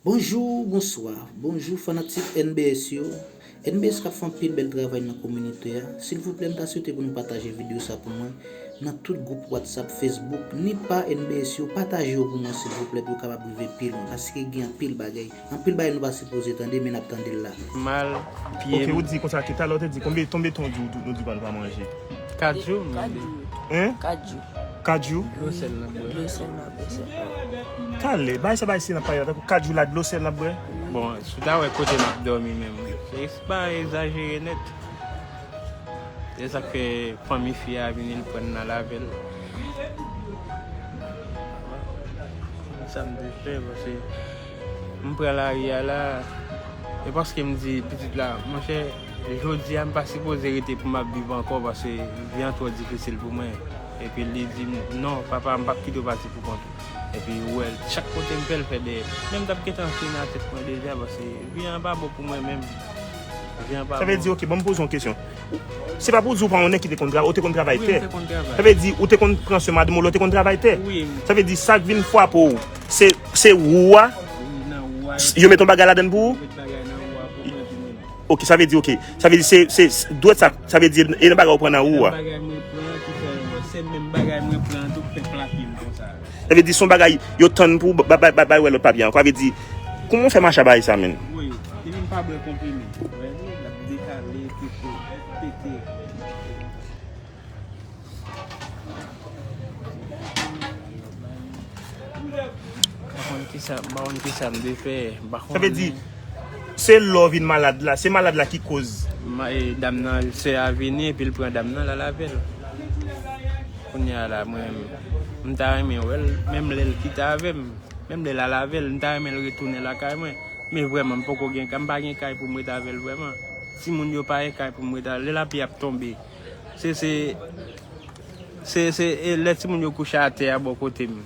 Bonjour bonswa bonjour fanatik NBS yo NBS kap fè anpil bèl travay nan kominite a silvouplè m ta swete pou nou pataje video sa pou mwen nan tout gwoup watsap fesbouk ni pa NBS yo pataje yo pou mwen silvouplè pou yo kapab rive pi lwen paske gen anpil bagay anpil bagay nou pa sipoze tande men nap tande l la. Mal pye m. Ok ou di konsa tou talè ou te di konbe tonbe ton di ou di ou pral pa manje. 4 jou m mande. Hein? 4 jou. Kajou. Dlo sèl nap bwè. Dlo sèl nap bwè se sa. Kale, bay sa bay sila pa yo. Tankou kajou la dlo sèl nap bwè. Bon, sou ta wè kote map dòmi menm. Felix pa ezajere nèt. Se sak fè fanmi fi a vini l prann nal avèl. Sam te fè pase. M pran lari a la. E paskem di pitit la, monchè. Jodi a m pa sipoze rete pou m ap viv ankò paske vi an twò difisil pou mwen. Epi li di m, Non, papa, m p ap kite w pati pou kont ou. Epi ou wè l, chak kote m fè, l fè dèyè m. Men m t ap gentan fini nan tèt mwen deja paske vi an pa bon pou mwen menm. Vi an pa bon. Sa vle di, ok, ban m poze w yon kesyon. Se pa pou w di ou pa yon nèg ki te konn travay, ou te konn travay tè. Wi, m te konn travay. Sa vle di, ou te konn pran swen madanm ou la, ou te konn travay tè. Wi. Sa vle di, sa k vin fwape w, se wou a, yo met yon bagay ladan l pou ou? Yo met bagay nan wou a pou mwen epi m. Ok sa vle di ok. Sa vle di se se dwèt sa sa vle di e nan bagay ou pran nan ou a. Nan bagay mwen pran an ki fè yo se menm bagay mwen pran an tou ki fè plake m konsa yo. Sa vle di son bagay yo tann pou bay wè lòt papye an. Sa vle di kouman ou fè mache a bagay sa menn. Woy ti moun pa bwè konprime. Wè li lap dekale pete pete. Sa vle di, se lè w vin malad la, se malad la ki koz. Dam nan, sè a vini epi l pran dam nan l al avè l. Kounye a la mwen, m ta renmen wè l, menm lè l kite avè m, menm lè l al avè l, m ta renmen l retounen lakay mwen. Men vrèman m poko gen kay, m pa gen kay pou m ret avè l vrèman. Timoun yo pa gen kay pou m ret avè l. Lè lapli ap tonbe. Se se Se se e lè timoun yo kouche atè a bò kote m.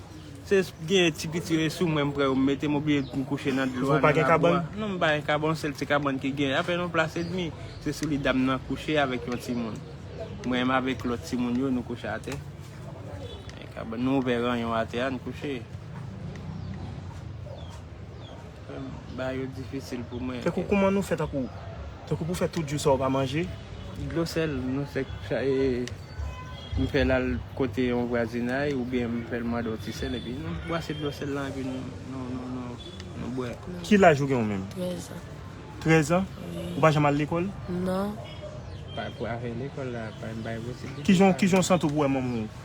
Se s genyen ti piti yo e sou mwen m pran yo m mete m oblije m kouche nan dlo a nan labou a. Ou pa gen kabann? Non m pa gen kabann, yon sèl ti kabann ki genyen. Apèn yon plas edmi. Se sou li dam nan kouche avèk yon timoun. Mwen m avèk lòt timoun yo nou kouche atè. Gen kabann. Nou ouvè ranyon atè a n kouche. Ba yo difisil pou mwen. Tankou kouman nou fè tankou. Tankou pou fè tout jou sa ou pa manje. Dlo sèl nou fèk chaje m fèl al kote yon vwazinay oubyen m fèl mande yon ti sèl epi nou bwase dlo sèl lan epi nou bwè. Ki laj ou gen ou menm? 13 ans. 13 ans? Wi. Ou pa janm al lekòl? Non. Pou afè lekòl la pa m bay posiblite. Kijan w santi w pou wè manman w?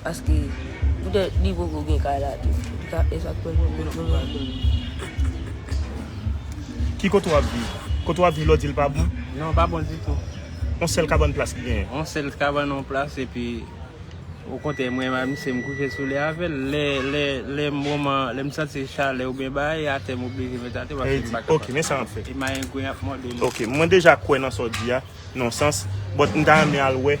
Paske poutèt li poko gen kay la tou. Li ka fè sak fèl menm lè pa gen li. Ki kote wap viv? Kote wap viv la w dil pa bon? Non pa bon ditou. On sèl kabann plas li genyen? On sèl kabann on plas epi ou kontè mwen menm ak misye m kouche sou li avèl. Lè moman lè m santi chalè oubyen bagay atè m oblije met atè paske m pa kapab. Ok men sa map fè. E mayengwen ap mòde m. Ok mwen deja kwè nan sa w di a nan yon sans but m ta renmen al wè.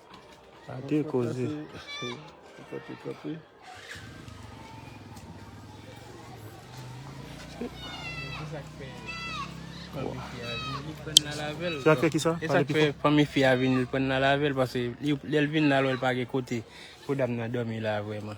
Ake koze. Sa fè kisa? E sa fè fanmi fi a vin li pran nan lavel pase lèl vin nan lwèl pa gen kote pou dam nan domi la vwèman.